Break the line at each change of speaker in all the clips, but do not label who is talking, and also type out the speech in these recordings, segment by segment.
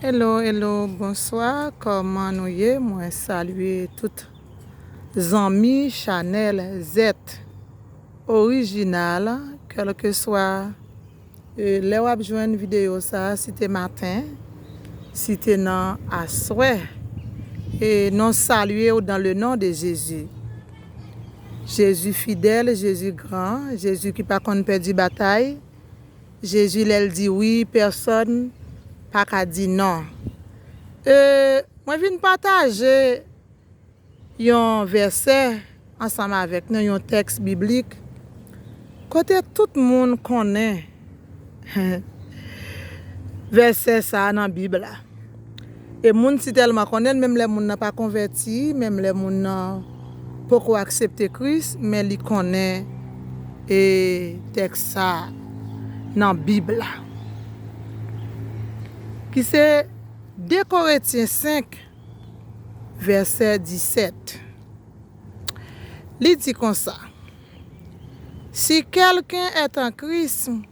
Hello hello bonswa kòman nou ye mwen salye tout zanmi chanèl zèt orijinal kèlkeswa lè wap jwenn videyo sa si te maten si te nan aswè e non salye ou dan le non de jezi jezi fidèl jezi gran jezi ki pa konn pèdi batay Jezi lèl di wi pèsòn paka di non. Euh mwen vin pataje yon vèsè ansanm avèk nou yon tèks biblik kote tout moun konnen vèsè sa nan bib la. E moun si tèlman konnen l menm lè moun nan pa konvèti, menm lè moun nan poko aksepte Kris, men li konnen e tèks sa a nan Bib la. Ki se 2 Koretyen 5 vèsè 17. Li di konsa, Si kèlken èt an Kris,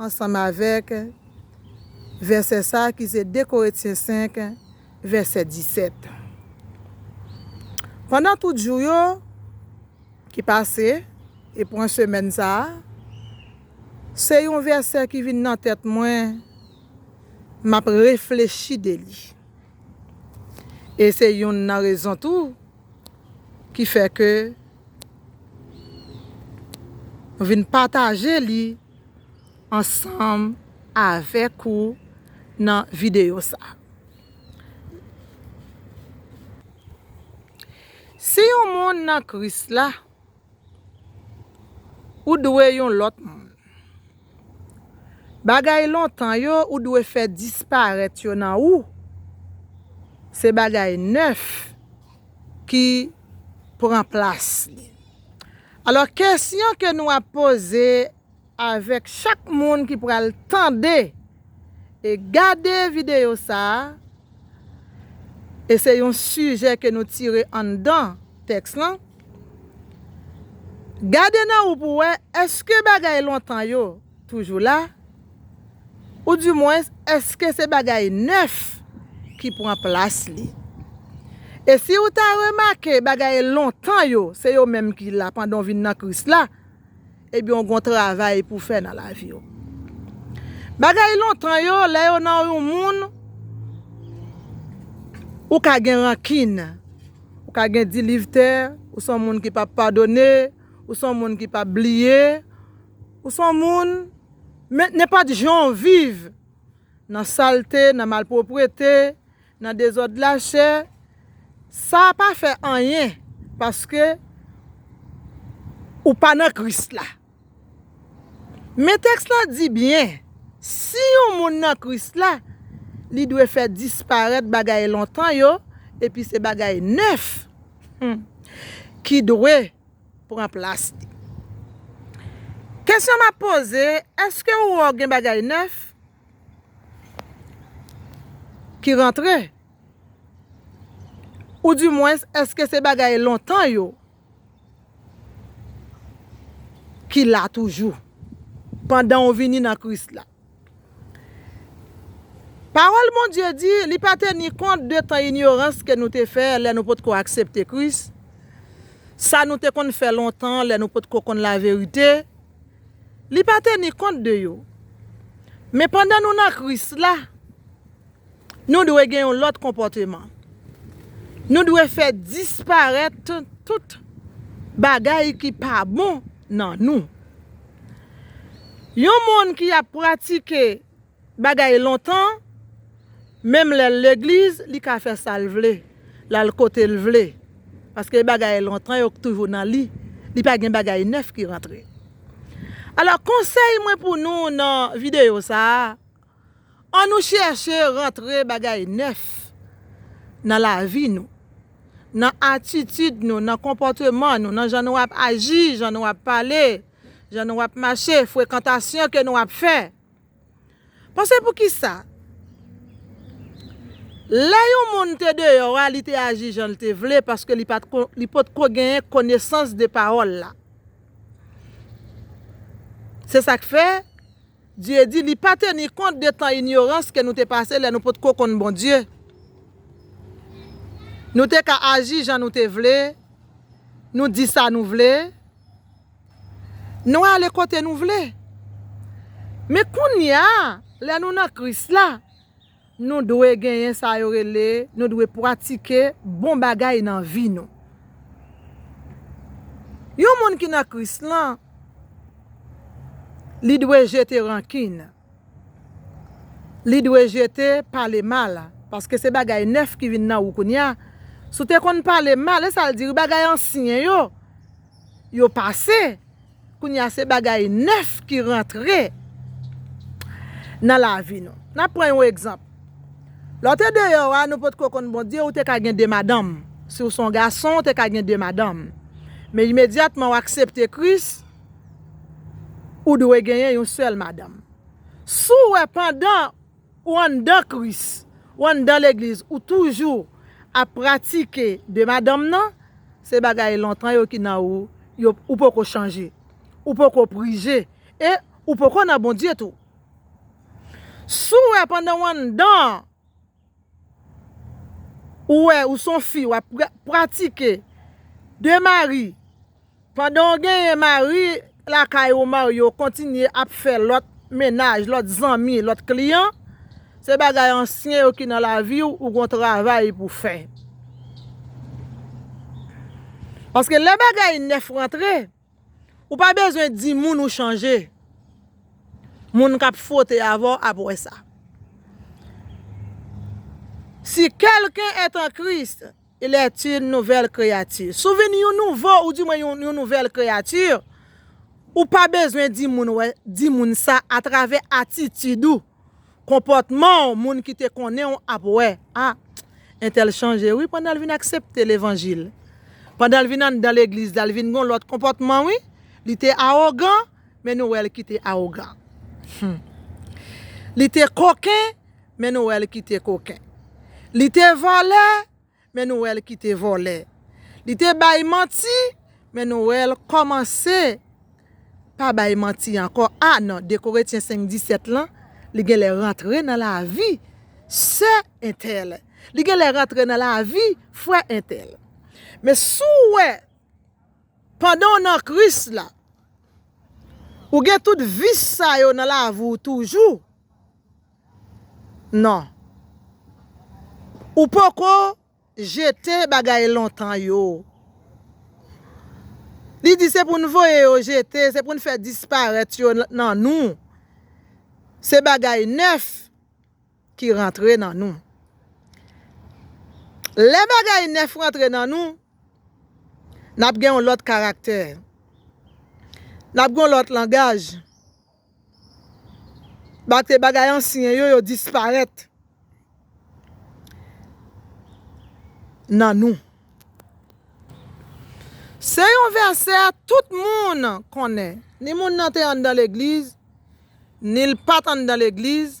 ansanm avèk vèsè sa a ki se 2 Korentyen 5, vèsè 17. Pandan tout jou yo ki pase, e pran semèn sa a, se yon vèsè ki vin nan tèt mwen, m ap reflechi de li. E se youn nan rezon tou ki fè ke m vin pataje li ansanm avèk ou nan videyo sa. Si yon moun nan Kris la. Ou dwe yon lòt moun. Bagay lontan yo ou dwe fè disparèt yo nan ou, se bagay nèf ki pran plas li. Alò kesyon ke nou ap poze Avèk chak moun ki pral tande e gade videyo sa a, e se yon sijè ke nou tire anndan tèks lan, gade nan ou pou wè èske bagay lontan yo toujou la, ou di mwens èske se bagay nèf ki pran plas li. E si ou ta remake bagay lontan yo se yo menm ki la pandan ou vin nan Kris la, Ebyen w gon travay pou fè nan lavi w. Bagay lontan yo lè yo nan yon moun ou ka gen rankin, ou ka gen dilivtè, ou son moun ki pap padone, ou son moun ki pap bliye, ou son moun men nenpòt jan w viv nan salte, nan malproprete. Nan dezòd la chè sa pa fè anyen paske ou pa nan Kris la. Men tèks la di byen si yon moun nan Kris la li dwe fè disparèt bagay lontan yo epi se bagay nèf ki dwe pran plas li. Kesyon m ap poze èske ou wè w gen bagay nèf Ki rantre? Ou di mwens eske se bagay lontan yo ki la toujou pandan ou vini nan Kris la? Pawòl Bondye di, li pa teni kont de tan inyorans ke nou te fè lè nou potko aksepte Kris, sa nou te konn fè lontan lè nou potko konn laverite, Li pa teni kont de yo. Men pandan nou nan Kris la, nou dwe gen yon lòt konpòteman. Nou dwe fè disparèt tout bagay ki pa bon nan nou. Yon moun ki ap pratike. Bagay lontan, menm lèl legliz li ka fè sal vle, lal kotel vle, paske bagay lontan yo k toujou nan li, li pa gen bagay nèf ki rantre. Alò konsèy mwen pou nou nan videyo sa, an nou chèche rantre bagay nèf nan lavi nou, nan atitid nou, nan konpòteman nou, nan jan nou ap aji, jan nou ap pale, jan nou ap mache, frekantasyon ke nou ap fè. Panse poukisa lè yon moun te deyò a li te aji jan l te vle paske li potko genyen konesans de pawòl la. Se sa k fè, Dye di, li pa teni kont de tan inyorans ke nou te pase lè nou potko konn Bondye. Nou te ka aji jan nou te vle, nou di sa nou vle. Nou ale kote nou vle. Men kounye a, lè nou nan Kris la, nou dwe genyen sa yo rele, nou dwe pratike bon bagay nan vi nou. Yon moun ki nan Kris lan, li dwe jete rankin, li dwe jete pale mal, paske se bagay nèf ki vin nan ou kounye a. Si w te konn pale mal, e sa l di wi, bagay ansyen yo. yo pase kounye a se bagay nèf ki rantre nan lavi nou n ap pran yon egzanp lè w te deyò a nou potko konn Bondye ou te ka gen 2 madanm si w se yon gason ou te ka gen 2 madanm men imedyatman w aksepte Kris ou dwe genyen yon sèl madanm si w wè pandan Ou anndan Kris, ou anndan legliz, ou toujou ap pratike de madanm nan, se bagay lontan yo ki nan ou, ou poko chanje, ou poko prije, e ou poko nan Bondye tou. Si w wè pandan w anndan an, ou wè ou son fi wap pratike de mari, Pandan w genyen mari lakay ou Mario kontinye ap fè lòt mennaj, lòt zanmi, lòt kliyan, se bagay ansyen yo ki nan lavi w ou gon travay pou fè. Paske lè bagay nèf rantre, ou pa bezwen di moun ou chanje, moun k ap fwote avè w ap wè sa. Si quelqu'un est en Christ. Il est une nouvelle créature. Si w vin yon nouvo ou di mwen yon nouvelle créature, ou pa bezwen di moun wè, di moun sa a travè atitid ou, konpòtman w, moun ki te konnen w ap wè, a, entèl chanje wi pandan l vin aksepte levanjil. Pandan l vin anndan legliz la, l vin gen yon lòt konpòtman wi. Li te awogan, men nou wè l ki te awogan. Hum. Li te koken. men nou wè l ki te koken. Li te vòlè, men nou wè l ki te vòlè. Li te bay manti, men nou wè l kòmanse pa bay manti ankò. A nan 2 Koretyen 5, 17 lan, li gen lè rantre nan lavi sè entèl, li gen lè rantre nan lavi frè entèl. Men si w wè, pandan w nan Kris la, ou gen tout vis sa yo nan lavi w toujou, Non. Ou poko jete bagay lontan yo. Li di se pou n voye yo jete, se pou n fè disparèt yo nan nou. Se bagay nèf ki rantre nan nou. Lè bagay nèf rantre nan nou, n ap gen yon lòt karaktè. N ap gen yon lòt langaj. Bate bagay ansyen yo, yo disparèt nan nou. Se yon vèsè tout moun konnen, ni moun nan te anndan legliz, ni l pa t anndan legliz.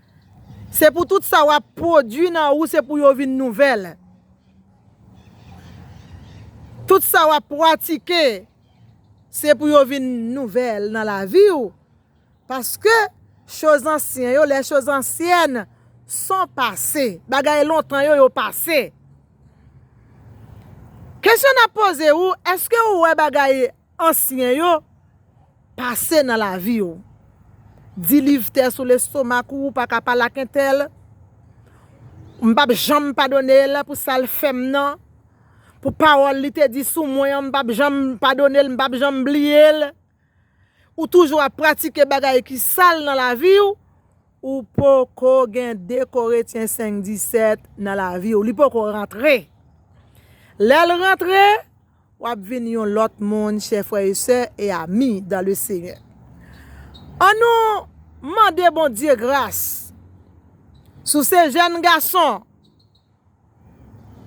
Se pou tout sa wap pwodwi nan ou se pou yo vin nouvèl. Tout sa wap pwatike se pou yo vin nouvèl nan lavi ou. Paske choz ansyen yo, les choses anciennes sont passées. Bagay lontan yo, yo pase. Kesyon nap poze ou, eske ou wè bagay Ansyen yo pase nan lavi w. Di liv tè sou lestomak ou ou pa ka pale ak entèl. M pap janm padone l pou sa l fè m nan. Pou pawòl li te di sou mwen an m pap janm padone l m pap janm bliye l. Ou toujou ap pratike bagay ki sal nan lavi w. Ou poko gen 2 Koretyen 5, 17 nan lavi w. Li poko rantre. Lè l rantre. W ap vin yon lòt moun, chè frè e sè e ami dan le Senyè. An nou mande Bondye gras sou se jèn gason.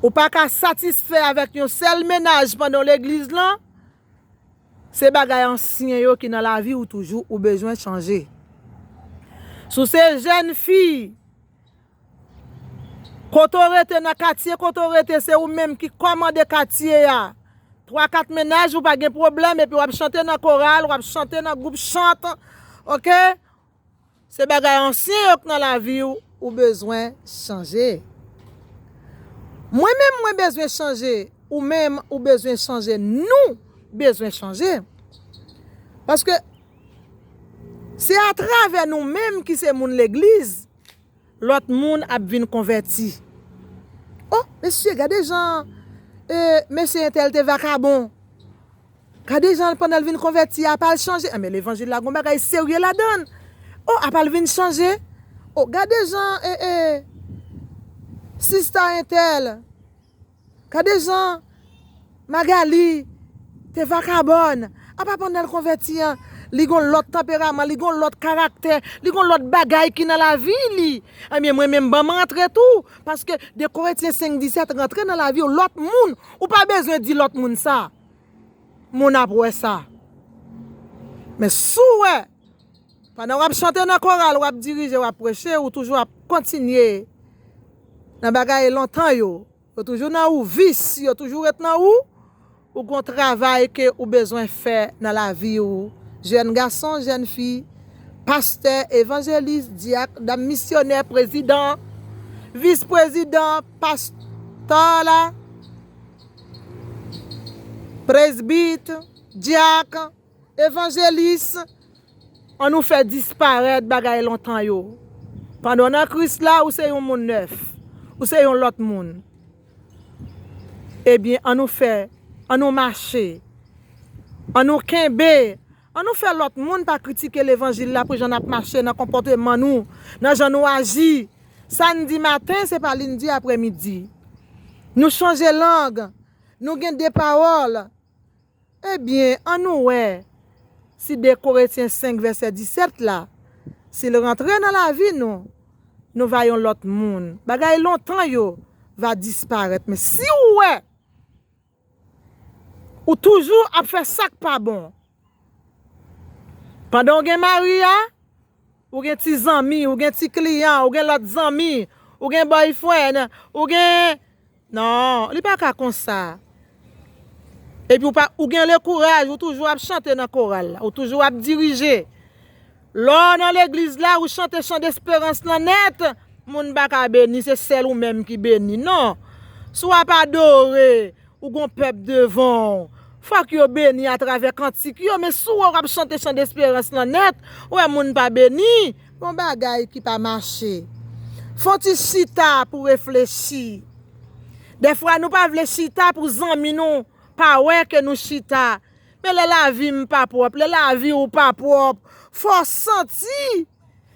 Ou pa ka satisfè avèk yon sèl mennaj pandan w legliz lan, se bagay ansyen yo ki nan lavi ou toujou ou bezwen chanje. Sou se jèn fi. Kote w rete nan katye kote w rete se ou menm ki kòmande katye a. Twa kat mennaj ou pa gen pwoblèm epi wap chante nan koral wap chante nan gwoup chant ok se bagay ansyen yo k nan lavi w ou bezwen chanje. Mwen menm mwen bezwen chanje ou menm ou bezwen chanje nou bezwen chanje paske se atravè nou menm ki se moun legliz. Lot moun ap vin konvèti. Oh mesye gade jan mesye entèl te vakabon. Gade jan pandan l vin konvèti apa l chanje. Anben levanjil la gon bagay serye ladann. Oh apa l vin chanje. Oh gade jan sista entèl Gade jan Magalie te vakabòn. Apa pandan l konvèti an, li gon lòt tanperaman, li gon lòt karaktè, li gon lòt bagay ki nan lavi li. Ebyen mwen menm ban m rantre tou. Paske 2 Koretyen 5, 17 rantre nan lavi w, lòt moun. Ou pa bezwen di lòt moun sa. Moun ap wè sa. Men si w wè. Pandan w ap chante nan koral, w ap dirije, w ap preche, ou toujou ap kontinye nan bagay lontan yo. Yo toujou nan ou, vis yo toujou ret nan ou, ou gon travay ke ou bezwen fè nan lavi ou, jèn gason, jèn fi, pastè, evanjelis, dyak, dam misyonè, prezidan, vis prezidan, past ol, presbit, dyak. Evanjelis, an nou fè disparèt bagay lontan yo. Pandan w nan Kris la, ou se yon moun nèf. Ou se yon lòt moun. Ebyen, an nou fè, an nou mache. An nou kenbe, an nou fè lòt moun pa kritike levanjil la pou jan n ap mache, nan konpòteman nou, nan jan nou aji. Sa n di maten, se pa li n di aprèmidi. Nou chanje lang, nou gen de pawòl. Ebyen, annou wè si 2 Koretyen 5 vèsè 17 la, si l rantre nan lavi nou, nou va yon lòt moun. Bagay lontan yo va disparèt. Men, si ou wè ou toujou ap fè sa k pa bon pandan ou gen mari a, Ou gen ti zanmi, ou gen ti kliyan, ou gen lòt zanmi, ou gen boyfriend, ou gen Non, li pa ka konsa. Epi ou pa, ou gen le kouraj, ou toujou ap chante nan koral la, ou toujou ap dirije. Lè w nan legliz la, ou chante chan desperans lan nèt, moun pa ka beni, se sèl ou menm ki beni. Non, si w ap adore, Ou gon pèp devan w. Fòk yo beni a travè kantik yo, men si w wè w ap chante chan desperans lan nèt, ou wè moun pa beni. Gon bagay ki pa mache. Fon ti chita pou reflechi. Dèfwa nou pa vle chita pou zanmi nou pa wè ke nou chita. Men lè lavi m pa pwòp, lè lavi w pa pwòp, fò w santi.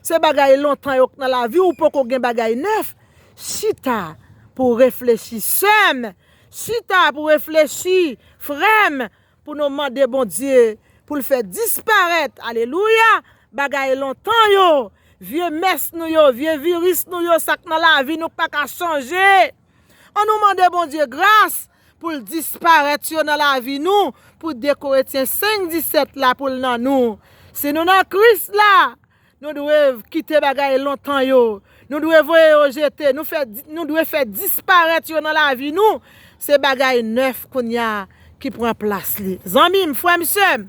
Se bagay lontan yo k nan lavi ou poko gen bagay nèf chita pou reflechi sèm chita pou reflechi frèm pou nou mande Bondye poul fè disparèt alelouya bagay lontan yo vye mès nou yo vye viris nou yo sak nan lavi nou k paka chanje an nou mande Bondye gras Pou l disparèt yo nan lavi nou pou 2 Koretyen 5, 17 la pou l nan nou. Si nou nan Kris la, nou dwe kite bagay lontan yo, nou dwe voye yo jete, nou dwe fè disparèt yo nan lavi nou, se bagay nèf kounye a ki pran plas li. Zanmi m, frè m, sè m,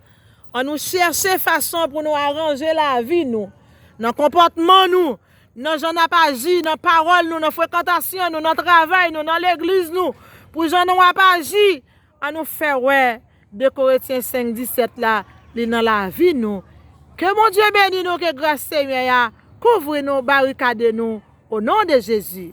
annou chèche fason pou nou aranje lavi nou, nan konpòtman nou, Nan jan n ap aji, nan pawòl nou, nan frekantasyon nou, nan travay nou, nan legliz nou, pou jan nou ap aji, an nou fè wè 2 Koretyen 5, 17 la, li nan lavi nou. Ke Bondye beni nou, ke gras Senyè a kouvri nou, barikade nou, o non de Jezi.